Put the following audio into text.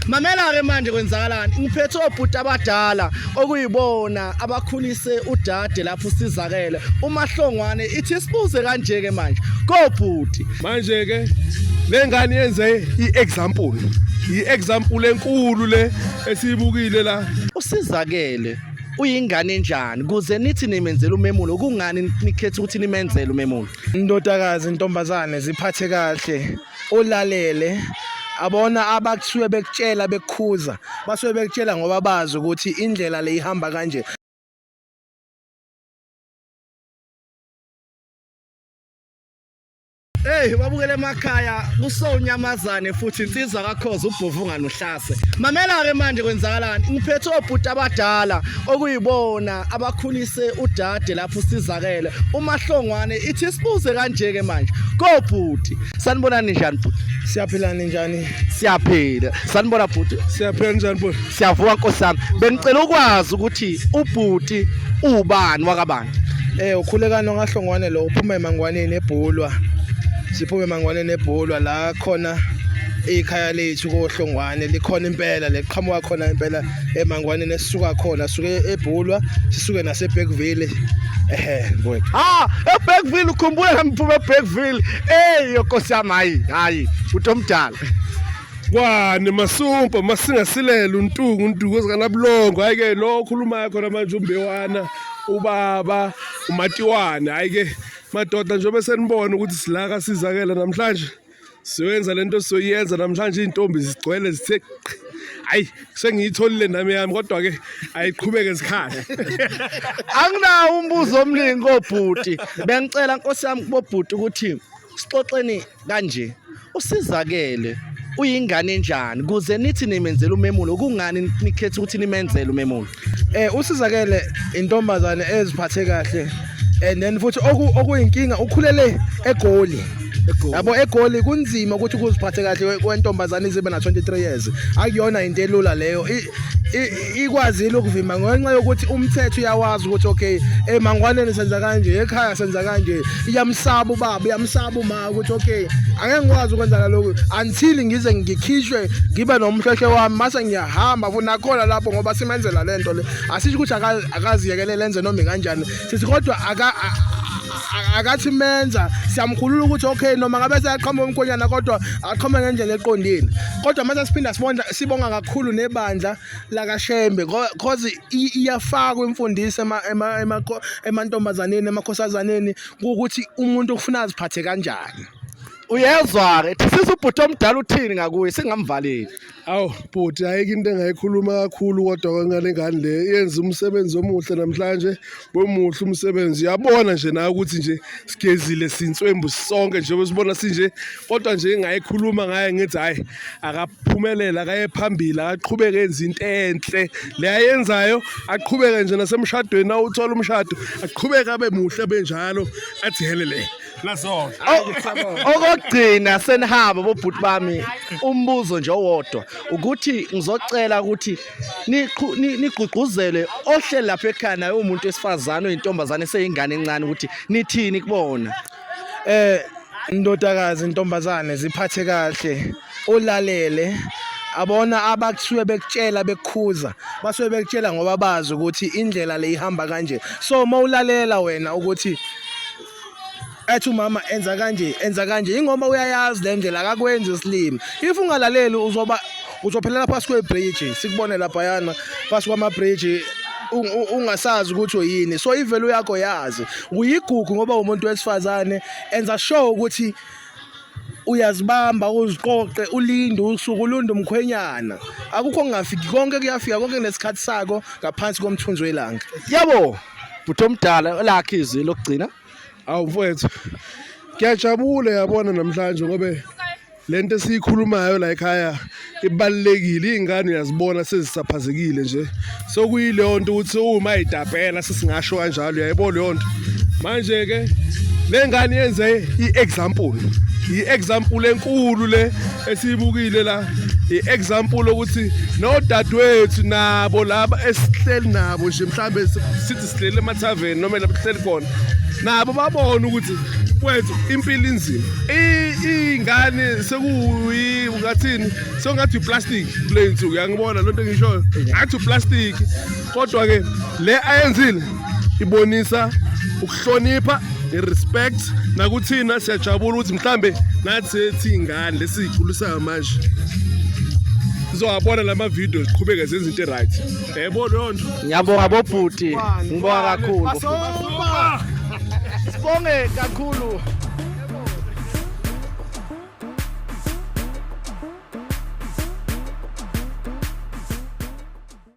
Mamela-ke manje kwenzakalani ngiphethe obhuti abadala okuyibona abakhulise udade lapho usizakele umahlongwane ithi sibuze kanje-ke manje kobhuti manje-ke le ngane yenze i-example i-example enkulu le esiyibukile la usizakele uyingane enjani kuze nithi nimenzela umemulo kungani nikhetha ukuthi nimenzele umemulo indodakazi intombazane ziphathe kahle ulalele abona abakusuke bekutshela bekukhuza basuke bekutshela ngoba bazi ukuthi indlela le ihamba kanje Hey babukele emakhaya kusonyamazane futhi insizwa kakhoza ubhovu nganuhlaza Mamela-ke manje kwenzakalani ngiphethe obhuti abadala okuyibona abakhulise udade lapho usizakele umahlongwane ithi sibuze kanje-ke manje kobhuti sanibonani njani bhuti siyaphila ninjani siyaphila sanibona bhuti siyaphila ninjani bhuti siyavuka nkosi yami bengicela ukwazi ukuthi ubhuti ubani wakabani eh ukhulekani ongahlongwane lo uphuma emangwaneni ebhulwa siphume emangwaneni ebhulwa la khona ikhaya lethu kohlongwane likhona impela leqhamuka khona impela emangwaneni esisuka khona suke ebhulwa sisuke naseBergville ehe mfowethu ah eBergville ukhumbula ngiphuma eBergville hey yokosi yami hayi hayi uthi omdala kwani masumpa masingasilela untungu untungu ezikanabulongo hayi ke lo okhulumayo khona manje umbewana ubaba umatiwana hayi ke madoda njengoba senibona ukuthi silaka sizakela namhlanje siyoyenza le nto siyoyenza namhlanje iy'ntombi zigcwele zithe hayi sengiyitholile nami yami kodwa-ke ayiqhubeke zikhale anginawo umbuzo omningi kobhuti bengicela nkosi yami kubobhuti ukuthi sixoxeni kanje usizakele uyingane enjani kuze nithi nimenzela umemulo kungani nikhetha ukuthi nimenzele umemulo eh usizakele intombazane eziphathe kahle and then futhi okuyinkinga ukhulele egoli yabo egoli kunzima ukuthi kuziphathe kahle kwentombazane izibe na 23 years akuyona into elula leyo ikwazile ukuvimba ngenxa yokuthi umthetho uyawazi ukuthi okay emangwaneni senza kanje ekhaya senza kanje iyamsaba ubaba iyamsaba uma ukuthi okay angeke ngikwazi ukwenza lokho until ngize ngikhishwe ngibe nomhlehlo wami mase ngiya hamba futhi nakhona lapho ngoba simenzela le nto le asisho ukuthi akaziyekelele enze noma kanjani sithi kodwa akathi menza siyamkhulula ukuthi okay noma ngabe seyaqhama umkhonyana kodwa aqhama ngendlela eqondile kodwa mase siphinda sibonda sibonga kakhulu nebandla lakashembe cause iyafakwa imfundiso emantombazaneni emakhosazaneni ukuthi umuntu ufuna aziphathe kanjani uyezwa-ke thisiza ubhuti omdala uthini ngakuye singamvaleli Awu bhuti ayike into engayikhuluma kakhulu kodwa kwengane ngani le yenza umsebenzi omuhle namhlanje bomuhle umsebenzi uyabona nje nawe ukuthi nje sigezile sinswembu sonke nje besibona sinje kodwa nje engayikhuluma ngaye ngithi hayi akaphumelela akaye phambili akaqhubeke enza into enhle le ayenzayo aqhubeke nje nasemshadweni awuthola umshado aqhubeke abe muhle benjalo athi helele Nasona. O- okokugcina senihamba bobhuti bami umbuzo nje owodwa ukuthi ngizocela ukuthi niqhu- ni- nigqugquzele ohleli lapha ekhaya naye umuntu wesifazane oyintombazane eseyingane encane ukuthi nithini kubona eh ndodakazi intombazane ziphathe kahle ulalele abona abakusuke bekutshela bekukhuza basuke bekutshela ngoba bazi ukuthi indlela le ihamba kanje so mawulalela wena ukuthi ethi umama enza kanje enza kanje ingoma uyayazi le ndlela akakwenzi isilima if ungalaleli uzoba uzophelela phasi kwebridge sikubone laphayana phasi kwamabridge ungasazi ukuthi uyini so ivelu yakho yazi uyigugu ngoba umuntu wesifazane enza sure ukuthi uyazibamba uziqoqe ulinde usuku ulunde umkhwenyana akukho ngingafiki konke kuyafika konke kunesikhathi sako ngaphansi komthunzi welanga yabo bhuti omdala lakhe izwi lokugcina awu mfowethu ngiyajabula yabona namhlanje ngobe lento esiyikhulumayo la ekhaya ibalulekile iy'ngane uyazibona sezisaphazekile nje sokuyileyo nto ukuthi uma idabhela sesingasho kanjalo uyayibona leyo nto manje-ke le ngane yenze i-example i-example enkulu le esiyibukile la i-example ukuthi nodadewethu nabo laba esihleli nabo nje mhlawumbe sithi sidlela emathaveni noma lapho sihleli khona nabo babona ukuthi kwethu impilo inzima iy'ngane sekuyi ungathini sekungathi uplastic kule nsuku yangibona loo nto engishoyo ngathi uplastic kodwa-ke le ayenzile ibonisa ukuhlonipha i-respect nakuthina siyajabula ukuthi mhlambe nathi sethi ingane lesiyikhulisayo manje sizowabona la mavidiyo ziqhubeke zenza into e-right Yebo leyo nto. Ngiyabonga bobhuti. Ngibonga kakhulu. Basoba. Sibonge kakhulu.